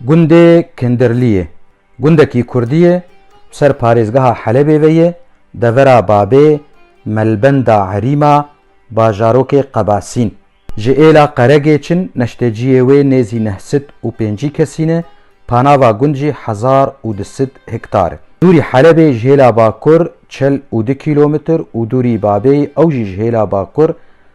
Gundê Kindirlî ye gundekî kurdî ye û ser parêzgeha Helebê ve ye, devera Babê, Melbenda Erîma, bajarokê Qebasîn. Ji êla Qeregê çin neşteciyê wê nêzî neh sid û pêncî kesîn e, panava gund jî hezar û du sid hektar e. Dûrî Helebê ji hêla bakur çil û du kîlometr û dûrî Babê ew jî ji hêla bakur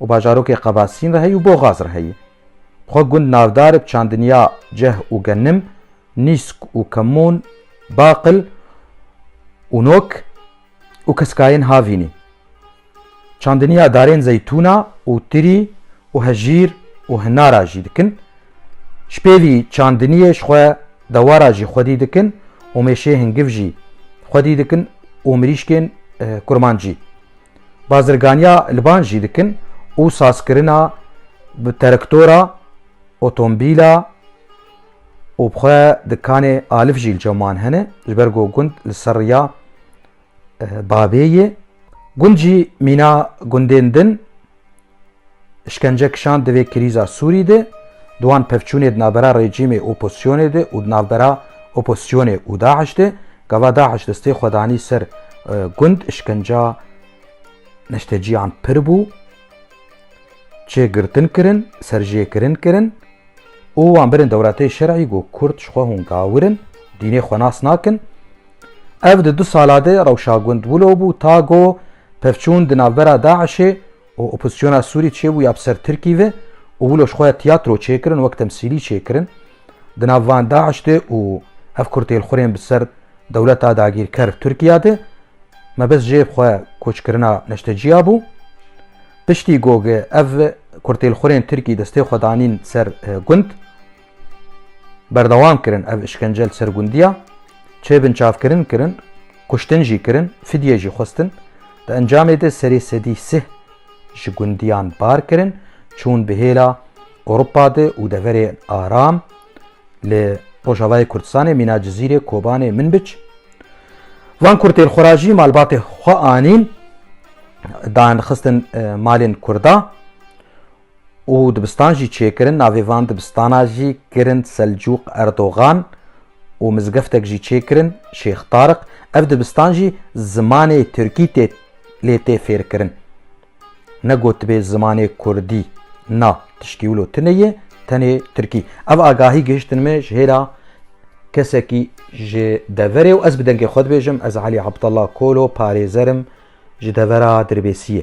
û bajarokê Qevasîn re heye û Boxaz re heye. Bi xwe gund navdar e bi çandiniya Ceh û Genim, Nîsk û Kemûn, Baqil û Nok û Keskayên Havînî, çandiniya darên Zeytûna û Tirî û Hejîr û Hinara jî dikin. Ji pêvî çandiniyê ji xwe dewara jî xwedî dikin û mêşê hingiv jî xwedî dikin û mirîşkên kurmancî. Bazirganiya liban jî dikin û sazkirina bi terektora, otombîla û bi xwe dikanê alif jî li Çewman hene ji ber ku gund li ser riya bavê yê. Gund jî mîna gundên din. Îşkence kişand di vê krîza Sûrî de, di wan pevçûnê di navbera rejîmê û opozîsyonê de û di navbera opozîsyonê û DAIŞ de, gava DAIŞ destê xwe danî ser gund, îşkenca neşteciyan pir bû, çê girtin kirin, serjêkirin kirin û wan birin dewletê şerî got Kurd ji xwe hûn gawir in, dînê xwe nas nakin. Ev di du sala de rewşa gund wilo bû ta go pevçûn di navbera DAIŞ'ê û opozîsyona Sûrî çêbû ya bi ser Tirkî ve û wilo ji xwe ya tiyatro çêkirin wek temsîlî çêkirin di nav van DAIŞ de û ev kurtêlxurên bi ser dewleta dagîrker Tirkîya de mebest jê xwe koçkirina neştecîya bû. Piştî go ev kurtêlxurên Tirkî destê xwe danîn ser gund. Berdewam kirin ev îşkence li ser gundiya, çê binçavkirin kirin, kuştin jî kirin, fidyê jî xwestin. Di encamê de serê sedî sih ji gundiyan bar kirin, çûn bi hêla Ewropa de û deverên aram li Rojavayê Kurdistanê, Mîna Cizîrê, Kobanê, Minbic. Van kurtên xwe ra jî malbatê xwe anîn, dan xistin malên Kurda. û dibistan jî çêkirin, navê van dibistana jî kirin Selcûq Erdogan û mizgeftek jî çêkirin Şêx Tariq, ev dibistan jî zimanê tirkî tê lê tê fêrkirin. Ne gotibê zimanê kurdî na tiştî wilo tune ye, tenê tirkî. Ev agahî gihiştin me ji hêla kesekî ji deverê û ez bi dengê xwe dibêjim ez Elî Abdallah Kolo parêzer im ji devera Dirbêsiyê.